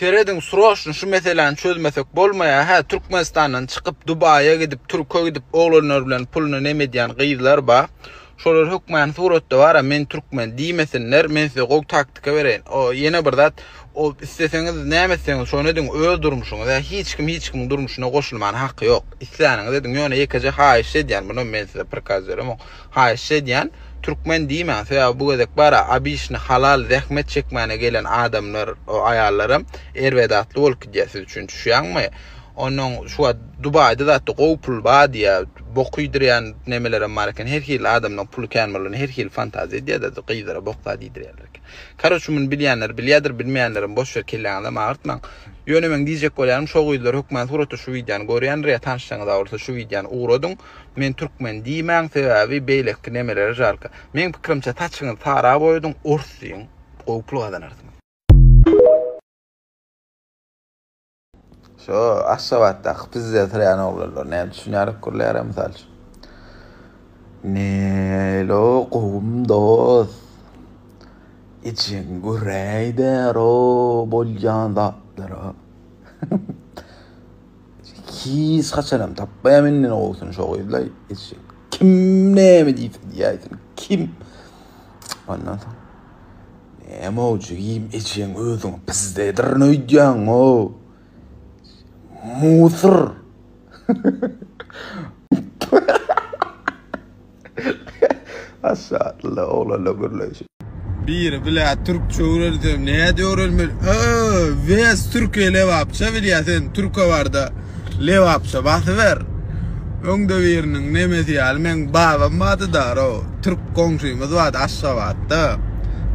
Serediň sroçno şu meseläni çözmesek bolmaýar hä Türkmenistandan çykyp Dubaýa gidip Türke gidip oglanlar bilen puluny nem edýän gyzlar ba şolar hökmany suratda bara men Türkmen diýmesinler men size gowy taktika bereýin o ýene bir zat o isleseňiz näme etseňiz şony ediň öz durmuşyňyz hä hiç kim hiç kimiň durmuşyna goşulmana haky ýok isläniňiz ediň ýöne ýekeje haýyşt edýän munam men size prikaz beremok Haýyş edýän Türkmen diýmäň sebäbi bu gezek bara obiçni halal zähmet çekmäne gelen adamlar o aýallaram erbedatly bolup gidýär siz üçin düşýäňmi onnoň şu wagt dubaýda zatda gowy pul bar diýýär bok iýdirýän nemelerem bar eken her hili adamlaň puly kän bolanda her hili fantaziýa edýärler gyzlara bok zat iýdirýärler eken karoçe muny bilýänler bilýärdir bilmeýänlerem boş ýer kelläňizem agyrtmaň ýöne meň diýjek bolýanym şo gyzlar hökmany suratda şu wideony görýändir ýa tanyşlaryňyz bar bolsa şu wideony ugradyň. Men türkmen diýmäň sebäbi beýleki nemelere žalka. Meň pikirimçe saçyňyzy sara boýadyň ors diýiň gowy pul gazanarsyňyz. Şo Aşgabatdaky pizze syrýan oglanlar näme düşünýärok gürleýär-ä mysal üçin. Nelo gowum dost. Içiň güräýder-ow bolýan zatlara. Hiç haçanam tapmaýa menden owsun şo gyzlaý. Eşek. Kim näme diýse diýäýsin. Kim? Ondan soň Näme o jigim ejeň özüň pizdedir öýdýäň o. Musur. Maşşaalla oglanlaň gürleýşi. Biri blä türkçe öwrensem näde öwrenmeli ööö wes türkiýe lebapça bilýä sen türke barda lebapça basyber öňde biriniň nemesi ýaly meň babam bardy daro türk goňşymyz bardy aşgabatda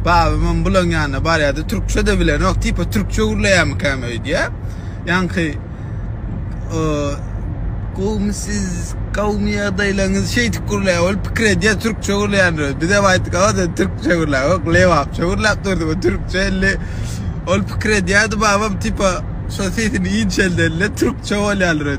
babamam bulaň ýanyna barýady türkçede bilenok tipa türkçe gürleýämikäm öýdýä ýaňky Gowmy siz, gowmy ýagdaýlaryňyz şeýdip gürläp ol pikir edýär, türkçe gürleýändir öz. Bizem aýtdyk, aga sen türkçe gürläp, ýok lebapça gürläp durdy bu türkçe elli. Ol pikir edýärdi babam tipa şo sesini inçelden-le türkçe bolýandyr öz.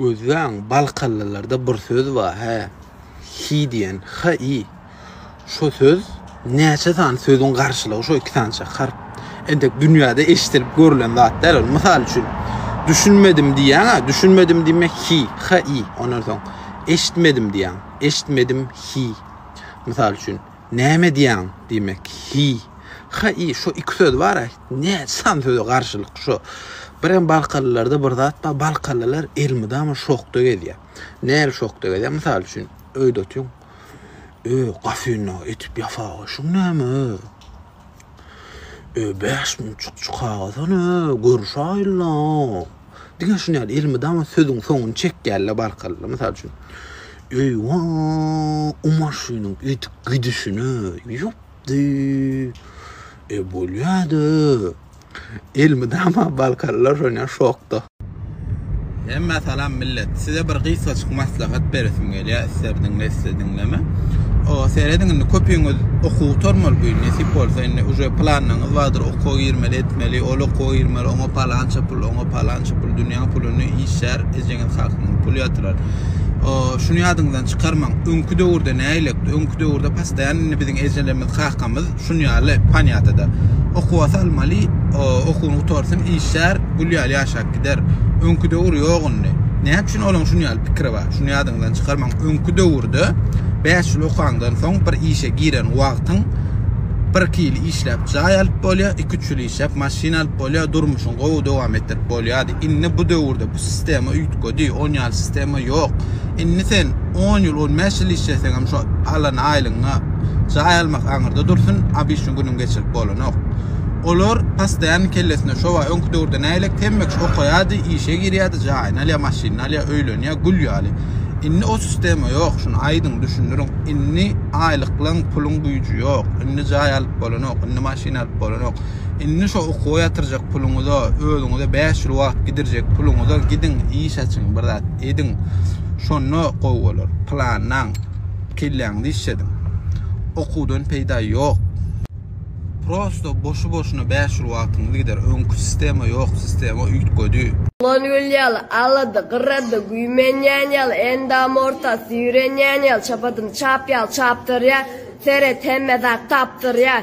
Gözleň, balkanlylarda bir söz bar, hä, hi diýen, h-i. Şo söz näçe sany sözüň garşylygy şo iki sança harp. Entek dünýäde eşidilip görlen zat däl ol. Mysal üçin, düşünmedim diýýäň-ä, düşünmedim diýme hi, h-i. Ondan soň eşitmedim diýýäň, eşitmedim hi. Mysal üçin, Näme edýäň? diýmek, Hi, ha-i, şo iki söz bar-a, näçe sany söze garşylyk şo. Birem balkalylarda bir zat bar, balkalylar elmydama şokda gezýär. Näl şokda gezýär? Mysal üçin, öýde otyň, Öý, gafynyňy etip ýasaga şuň näme? Öý bäş müň çykjy kagyz-a-ne, görüşäýeli-le. Diňe şuny ýaly elmydama sözüň soňuny çekýäli-le barkalla. Mysal üçin, Öý, wa, o maşynyň öýdüp gidişine, ýupdy. E, bolýa-da. Elmydama balkalylar şonýa şokda. Hemmä salam millet. Size bir gysgaçyk maslahat beresim gelýär. Isler diňle isle diňleme. O serediň indi köpüňiz okuw gutarmaly bu ýyl nesip bolsa indi uje planlaryňyz bardyr okuwa girmeli etmeli ol okuwa girmeli oňa palança pul oňa palança pul dünýäň puluny işlär ejeňiz hakyňyz pul ýatyrar. O şuny ýadyňyzdan çykarmaň öňki döwürde nägilekdi öňki döwürde pastaýan indi biziň ejelerimiz kakamyz Şun ýaly panýatada. Okuwa salmaly, okuwyny gutarsyn, işlär, gül ýaly ýaşap gider. Öňki döwür ýok indi. Näme üçin olaň şun ýaly pikiri bar? Şuny ýadyňyzdan çykarmaň. Öňki döwürde bäş ýyl okaňdan soň bir işe giren wagtyň bir-iki ýyl işläp jaý alyp bolýar, iki-üç ýyl işläp maşyn alyp bolýar, durmuşyňy gowy dowam etdirip bolýar. Indi bu döwürde bu sistema üýtgedi, on ýaly sistema ýok. Indi sen on ýyl, on bäş ýyl işleseňem şo alan aýlygyňa jaý almak aňyrda dursun, abyşny günüň geçirip bolanok. Olar postoýanny kellesine şowa öňki döwürde nägilek temmek okaýardy, işe girýärdi, jaýyny alýar, maşynyny alýar, öýlenýär, gül ýaly. Indi o sistema ýok, şuny aýdyň düşündiriň. Indi aýlyklaň, puluň güýji ýok. Indi jaý alyp bolanok, indi maşyn alyp bolanok. Indi şo okuwa ýatyrjak puluňyza, özüňize bäş ýyl wagt gidirjek puluňyza gidiň, iş açyň, bir zat ediň. Şonda gowy bolar. Planlaň. Kelläňizi işlediň. Okuwdan peýda ýok. Prosto boşu-boşuna bäş ýyl wagtyňyz gider. Öňki sistema ýok, sistema üýtgedi. Bolan gül ýaly, alady, gyrady, güýmenýän ýaly, endam ortasy ýürenýän ýaly, çapadymy çap ýaly çapdyrýar. Seret, hemme zat tapdyrýar.